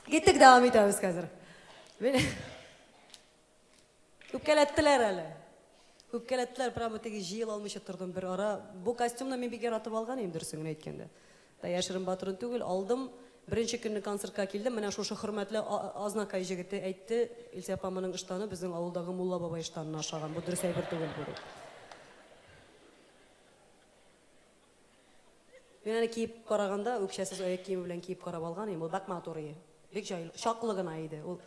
Киттек, дәвам итәбез хәзер. Үпкәләттеләр әле. Үпкәләттеләр, прямо теге җыел алмыйча тордым бер ара. Бу костюмны мин бик яратып алган идем, дөресен генә әйткәндә. Да яшерен батырын түгел, алдым. Беренче көнне концертка килдем, менә шушы хөрмәтле Азнакай җегете әйтте, Илсә апа моның ыштаны безнең авылдагы Мулла бабай ыштанына ошаган. Бу дөрес әйбер түгел булды. Мин аны киеп караганда, үкчәсез аяк киеме белән киеп карап алган идем, ул бәк матур ие. Бик җайлы, чаклы гына иде, ул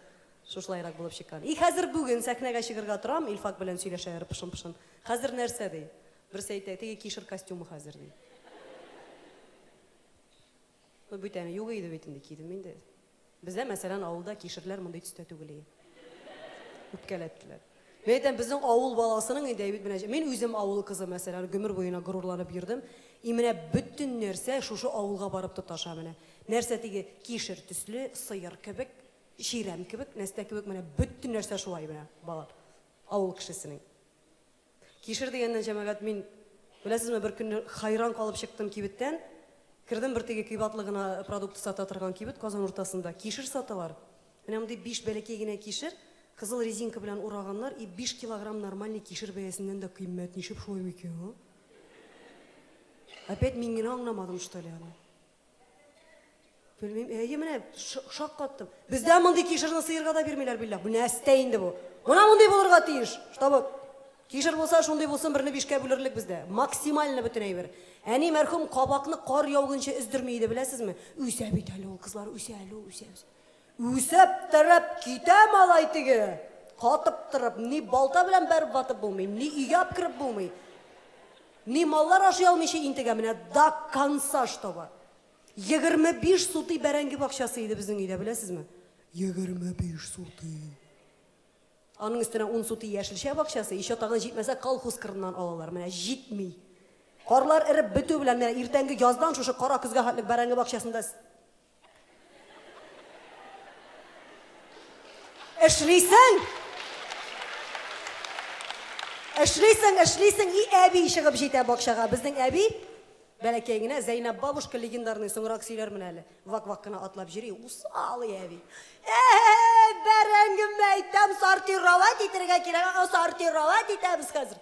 шушылайрак булып чыккан. И хәзер бүген сәхнәгә чыгырга торам, Илфак белән сөйләшә ары пышын-пышын. Хәзер нәрсә, ди. Берсе әйтә, теге кишер костюмы хәзер, ди. Ну бит әни юк иде бит инде, кидем инде. Бездә, мәсәлән, авылда кишерләр мондый төстә түгел и. Үпкәләттеләр. Мин әйтәм, безнең авыл баласының инде әйбит менә, мин үзем авыл кызы, мәсәлән, гомер буена горурланып йөрдем. И менә бөтен нәрсә шушы авылга барып тоташа менә. Нәрсә теге кишер төсле, сыер кебек, чирәм кебек, нәрсә кебек, менә бөтен нәрсә шулай менә, балалар. Авыл кешесенең. Кишер дигәннән, җәмәгать, мин, беләсезме, бер көнне хайран калып чыктым кибеттән. Кердем бер теге көйбә атлы гына продукт сата торган кибет Казан уртасында. Кишер саталар. Менә мондый биш бәләкәй генә кишер, кызыл резинка белән ураганнар, и биш килограмм нормальный кишер бәясеннән дә кыйммәт, ничек шулай микән, а? Опять мин генә аңламадым, что ли, аны? Белмим, әйе менә шаккаттым. Бездә мондый кишерне сыерга да бирмиләр биллә. Бу нәрсә инде бу? Менә мондый булырга тиеш. Чтобы кишер булса, шундый булсын, берне бишкә бүлерлек бездә. Максимально бөтен әйбер. Әни мәрхүм кабакны кар яугынча өздерми иде, беләсезме? Үсә бит әле ул, кызлар, үсә әле ул, үсә, үсә. Үзәп терәп китә малай теге! Катып торып, ни балта белән бәреп ватып булмый, ни өйгә апкереп булмый, ни маллар ашый алмыйча интегә, менә до конца чтобы! Егерме биш сутый бәрәңге бакчасы иде безнең өйдә, беләсезме? Егерме биш сутый! Аның өстенә ун сутый яшелчә бакчасы, еще тагын җитмәсә колхоз кырыннан алалар, менә җитми! Карлар эреп бетү белән, менә иртәнге яздан шушы кара көзгә хәтлек бәрәңге бакчасында Эшлисең! Эшлисең, эшлисең, и әби чыгып җитә бакчага. Безнең әби бәләкәй генә Зәйнәп бабушка легендарный соңрак сөйләрмен әле. Вак-вак кына атлап җөри, усал и әби. Э, бәрәңгем әйтәм, сортировать итәргә кирәк, сортировать итәбез хәзер.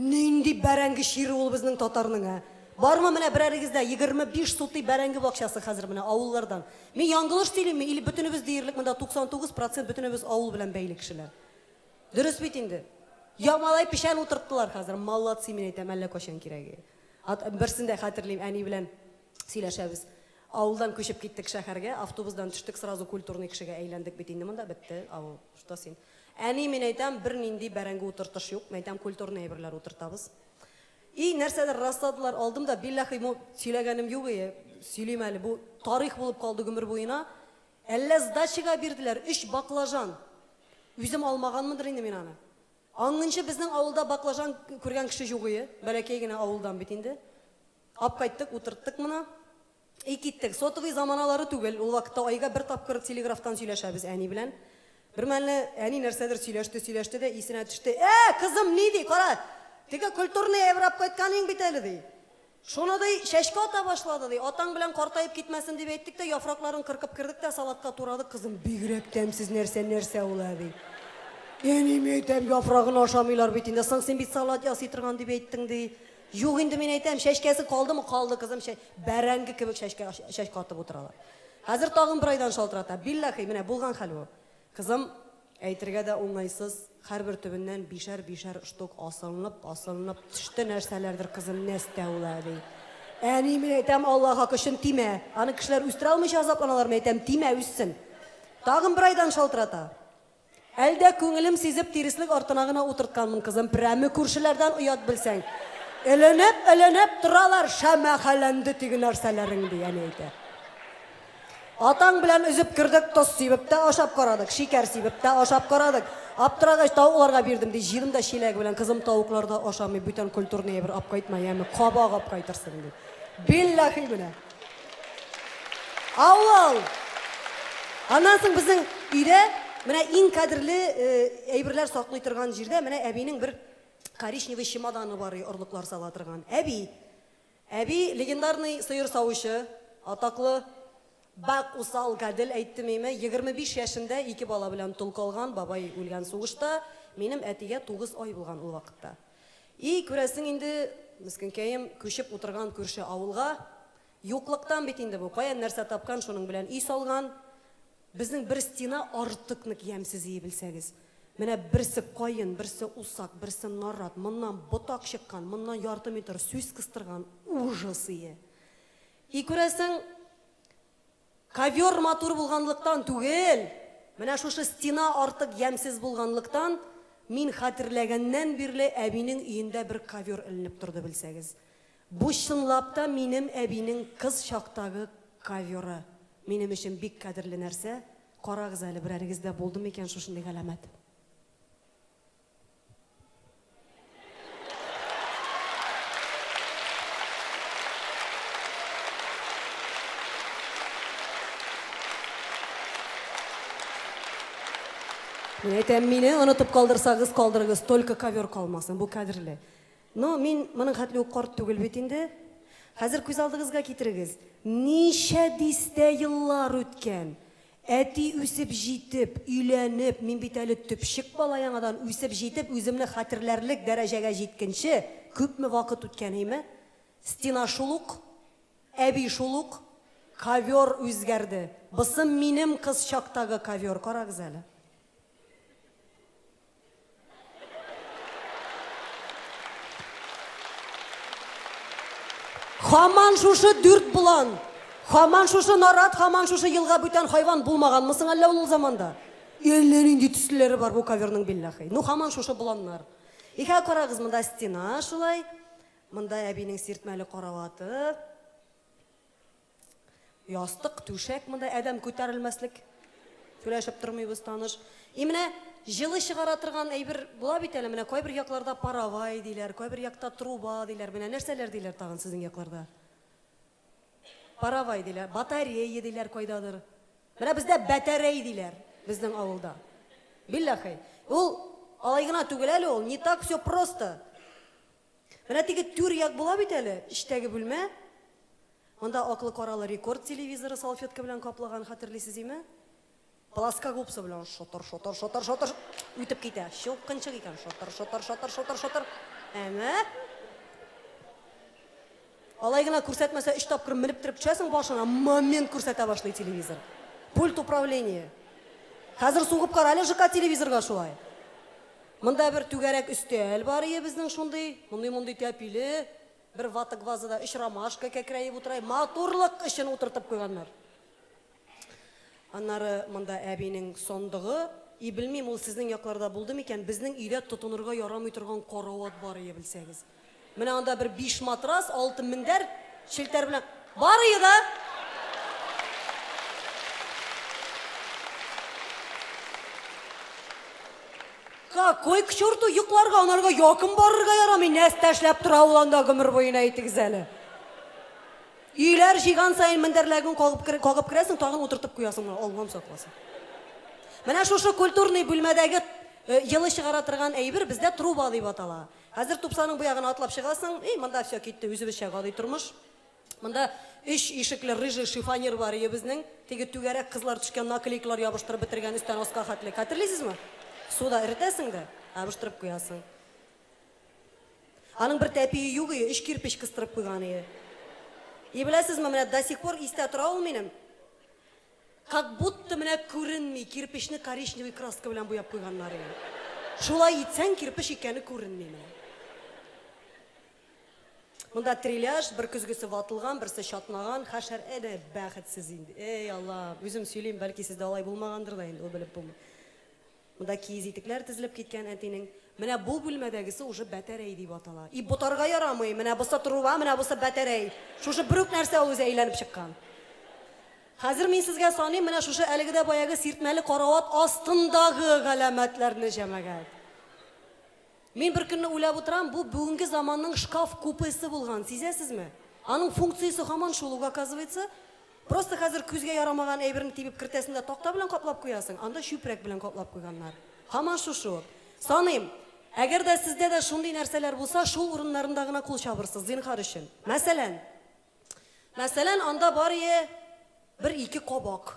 Нинди бәрәңге чире ул безнең татарның, ә? Бармы менә берәрегездә егерме биш сутый бәрәңге бакчасы хәзер менә авыллардан? Мин яңгылыш сөйлимме или бөтенебез диярлек монда 99 процент бөтенебез авыл белән бәйле кешеләр? Дөрес бит инде? Я малай печән утырттылар хәзер, молодцы мин әйтәм, әллә кайчан кирәге. Ат берсен дә хәтерлим, әни белән сөйләшәбез. Авылдан күчеп киттек шәхәргә, автобусдан төштек сразу культурный кешегә әйләндек бит инде монда, бетте авыл. Что син? Әни, мин әйтәм, бернинди бәрәңге утыртыш юк, мин әйтәм, культурный әйберләр утыртабыз. И, нәрсәдер расладылар, алдым да, билләхи, бу сөйләгәнем юк ие, сөйлим әле, бу тарих булып калды гомер буена, әллә сдачага бирделәр, өч баклажан! Үзем алмаганмындыр инде мин аны. Аңынчы безнең авылда баклажан күргән кеше юк ие, бәләкәй генә авылдан бит инде. Ап кайттык, утырттык моны. И киттек. Сотовый заманалары түгел, ул вакытта айга бер тапкыр телеграфтан сөйләшәбез әни белән. Бермәлне әни нәрсәдер сөйләште, сөйләште дә исенә төште. Ә, кызым, ни ди, кара, теге культурный әйбер ап кайтканың бит әле, ди. Шуны, ди, чәчкә ата башлады, ди. Атаң белән картаеп китмәсен дип әйттек тә, яфракларын кыркып кердек тә, салатка турадык, кызым. Бигрәк тәмсез нәрсә, нәрсә ул, әби? Әни, мин әйтәм, яфрагын ашамыйлар бит инде. Соң син бит салат ясый торган дип әйттең, ди. Юк инде мин әйтәм, чәчкәсе калдымы, калды кызым, чә... бәрәңге кебек чәчкә, чәчкә атып утыралар. Хәзер тагын бер айдан шалтырата, билләхи, менә булган хәл бу. Кызым, әйтергә дә уңайсыз, һәрбер төбеннән бишәр-бишәр штук асылынып, асылынып төште нәрсәләрдер, кызым, нәстәү вә әби. Әни, мин әйтәм, Алла хакы өчен тимә, аны кешеләр үстерә алмыйча азапланалармы, әйтәм, тимә, үссен. Тагын бер айдан шалтырата. Әлдә күңелем сизеп тиреслек артына гына утыртканмын кызым, прәме күршеләрдән оят белсәң. Эленеп, эленеп торалар, шәмәхәләнде теге нәрсәләрең, ди әни әйтә. Атаң белән өзеп кердек, тоз сибеп тә ашап карадык, шикәр сибеп тә ашап карадык. Аптырагач, тавыкларга бирдем, ди, җыйдым да чиләге белән, кызым, тавыклар да ашамый, бүтән культурный әйбер апкайтма, яме, кабак апкайтырсың, ди. Билләхи менә. Авыл! Аннан соң безнең өйдә менә иң кадерле э, әйберләр саклый торган җирдә менә әбинең бер коричневый чемоданы бар и орлыклар сала торган. Әби. Әби легендарный сыер савучы, атаклы Бак усал гадел әйтте миме, 25 яшендә ике бала белән тол калган, бабай үлгән сугышта, минем әтигә 9 ай булган ул вакытта. И, күрәсең инде, мескенкәем, күчеп утырган күрше авылга. Юклыктан бит инде бу, каян нәрсә тапкан, шуның белән өй салган. Безнең бер стена артык нык ямьсез ии белсәгез. Менә берсе каен, берсе усак, берсе нарат, моннан ботак чыккан, моннан ярты метр сүс кыстырган, ужас ие. И, күрәсең, Ковер матур булганлыктан түгел, менә шушы стена артык ямьсез булганлыктан, мин хәтерләгәннән бирле әбинең өендә бер ковер эленеп торды, белсәгез. Бу чынлап та минем әбинең кыз чактагы коверы. Минем өчен бик кадерле нәрсә. Карагыз әле, берәрегездә булдымы икән шушындый галәмәт? Мин әйтәм, мине онытып калдырсагыз, калдырыгыз, только ковер калмасын, бу кадерле. Но мин моның хәтле үк карт түгел бит инде. Хәзер күз алдыгызга китерегез, ничә дистә еллар үткән. Әти үсеп җитеп, өйләнеп, мин бит әле төпчек бала яңадан үсеп җитеп, үземне хәтерләрлек дәрәҗәгә җиткенче күпме вакыт үткән, әйме? Стена шул ук, әби шул ук, ковер үзгәрде. Бысы минем кыз чактагы ковер, карагыз әле. Хаман шушы дүрт булан. Хаман шушы нарат, хаман шушы елга бүтән хайван булмаган мысың әллә ул заманда? Әллә нинди төсләре бар бу коверның биллахи. Ну хаман шушы буланнар. Ихә карагыз монда стена шулай. Монда әбинең сиртмәле караваты. Ястык, түшәк, монда адәм күтәрелмәслек. Сүләшеп тормыйбыз, таныш. И менә җылы чыгара торган әйбер була бит әле, менә кайбер якларда паровай диләр, кайбер якта труба диләр, менә нәрсәләр диләр тагын сезнең якларда? Паровай диләр, батарея диләр кайдадыр. Менә бездә бәтәрәй диләр, безнең авылда. Билләхи. Ул алай гына түгел әле ул, не так все просто. Менә теге түр як була бит әле, эчтәге бүлмә. Монда аклы-каралы рекорд телевизоры салфетка белән каплаган, хәтерлисез име? Плоскогубцы белән шотыр, шотыр, шотыр, шотыр үтеп китә. Чылкынчык икән, шотыр, шотыр, шотыр, шотыр, шотыр. Әнә. Алай гына күрсәтмәсә, өч тапкыр менеп төреп төшәсең башыңа, момент күрсәтә башлый телевизор. Пульт управление. Хәзер сугып кара әле ЖК телевизорга шулай. Монда бер түгәрәк өстәл бар ие безнең шундый, мондый-мондый тәпиле, бер вата-гвазада өч ромашка кәкрәеп утыра, матурлык өчен утыртып куйганнар. Аннары монда әбинең сандыгы, и белмим, ул сезнең якларда булды микән, безнең өйдә тотынырга ярамый торган карават бар ие, белсәгез. Менә анда бер биш матрас, алты мендәр, челтәр белән бар ие да! Какой к черту йокларга, анарга якын барырга ярамый, нәрсә эшләп тора ул анда гомер буена әйтегез әле. Өйләр җыйган саен мендәрләгең кагып кагып керәсең, тагын утыртып куясың, менә Аллам сакласын. Менә шушы культурный бүлмәдәге йылы чыгара торган әйбер бездә труба дип атала. Хәзер тупсаның бу ягына атлап чыгасың, и, монда все китте, үзебезчә гади тормыш. Монда өч ишекле рыжий шифонер бар өебезнең, теге түгәрәк кызлар төшкән наклейкалар ябыштырып бетергән өстән аска хәтле. Хәтерлисезме? Суда эретәсең дә, ябыштырып куясың. Аның бер тәпие юк ие, өч кирпеч кыстырып куйган ие. И беләсезме, менә до сих пор истә тора ул минем. Как будто менә күренми, кирпечне коричневый краска белән буяп куйганнар ие. Шулай итсәң, кирпеч икәне күренми менә. Монда треляж, бер көзгесе ватылган, берсе чатнаган, хәшәр әнә бәхетсез инде. Әй, Аллам, үзем сөйлим, бәлки сездә алай булмагандыр да инде, ул белеп булмый. Монда киез итекләр тезелеп киткән әтинең. Менә бу бүлмәдәгесе уже бәтәрәй дип атала. И ботарга ярамый, менә бусы труба, менә бусы бәтәрәй. Шушы бер үк нәрсә ул үзе әйләнеп чыккан. Хәзер мин сезгә саныйм, менә шушы әлеге дә баягы сиртмәле карават астындагы галәмәтләрне, җәмәгать. Мин беркөнне уйлап утырам, бу бүгенге заманның шкаф купесы булган, сизәсезме? Аның функциясе һаман шул ук, оказывается. Просто хәзер күзгә ярамаган әйберне тибеп кертәсең дә такта белән каплап куясың, анда чүпрәк белән каплап куйганнар. Һаман шушы. Саныйм, әгәр дә сездә дә шундый нәрсәләр булса, шул урыннарында гына кул чабырсыз, зинһар өчен. Мәсәлән. Мәсәлән, анда барые бер-ике кабак.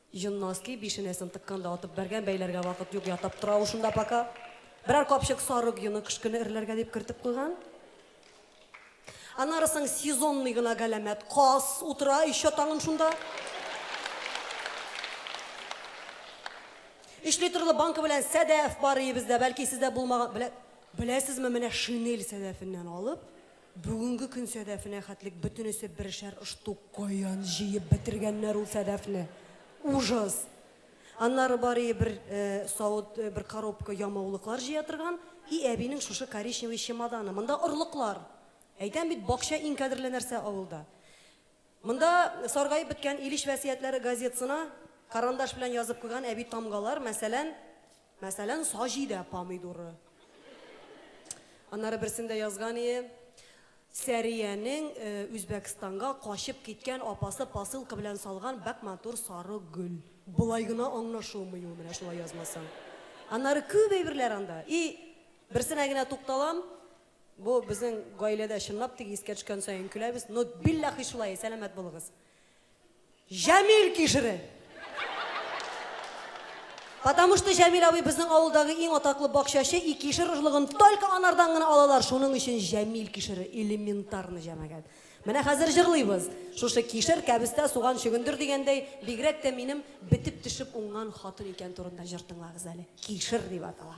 Җон носки бишенәсен тыккан да атып бәргән, бәйләргә вакыт юк, ятап тора ул шунда пока. Берәр капчык сары гены кышкыны эрләргә дип кертеп куйган. Аннары соң сезонный гына галәмәт каз утыра өйчә таңын шунда. Өч литрлы банка белән сәдәф бар өебездә, бәлки сездә булмаган, белә, беләсезме, менә шинель сәдәфеннән алып, Бүгенге көн сәдәфенә хәтлек бөтенесе берешәр оштук каян җыеп бетергәннәр ул сәдәфне! Ужас! Аннары барые бер савыт, бер коробка ямаулыклар җыя торган и әбинең шушы коричневый чемоданы. Монда орлыклар! Әйтәм бит, бакча иң кадерле нәрсә авылда. Монда саргаеп беткән Илеш вәсиятләре газетсына карандаш белән язып куйган әби тамгалар, мәсәлән, Мәсәлән, Саҗидә помидоры. Аннары берсендә язган ие, Сәриянең Үзбәкстанга качып киткән апасы посылка белән салган бәк матур сары гөл. Болай гына аңлашылмый ул, менә шулай язмасаң. Аннары күп әйберләр анда. И, берсенә генә тукталам, бу безнең гаиләдә чынлап теге искә төшкән саен көләбез, но билләхи шулай, сәламәт булыгыз. Җәмил кишере! Потому что Җәмил абый безнең авылдагы иң атаклы бакчачы и кишер орлыгын только анардан гына алалар, шуның өчен Җәмил кишере, элементарно җәмәгать. Менә хәзер җырлыйбыз. Шушы кишер, кәбестә, суган, чөгендер дигәндәй, бигрәк тә минем бетеп төшеп уңган хатын икән турында җыр тыңлагыз әле. Кишер дип атала.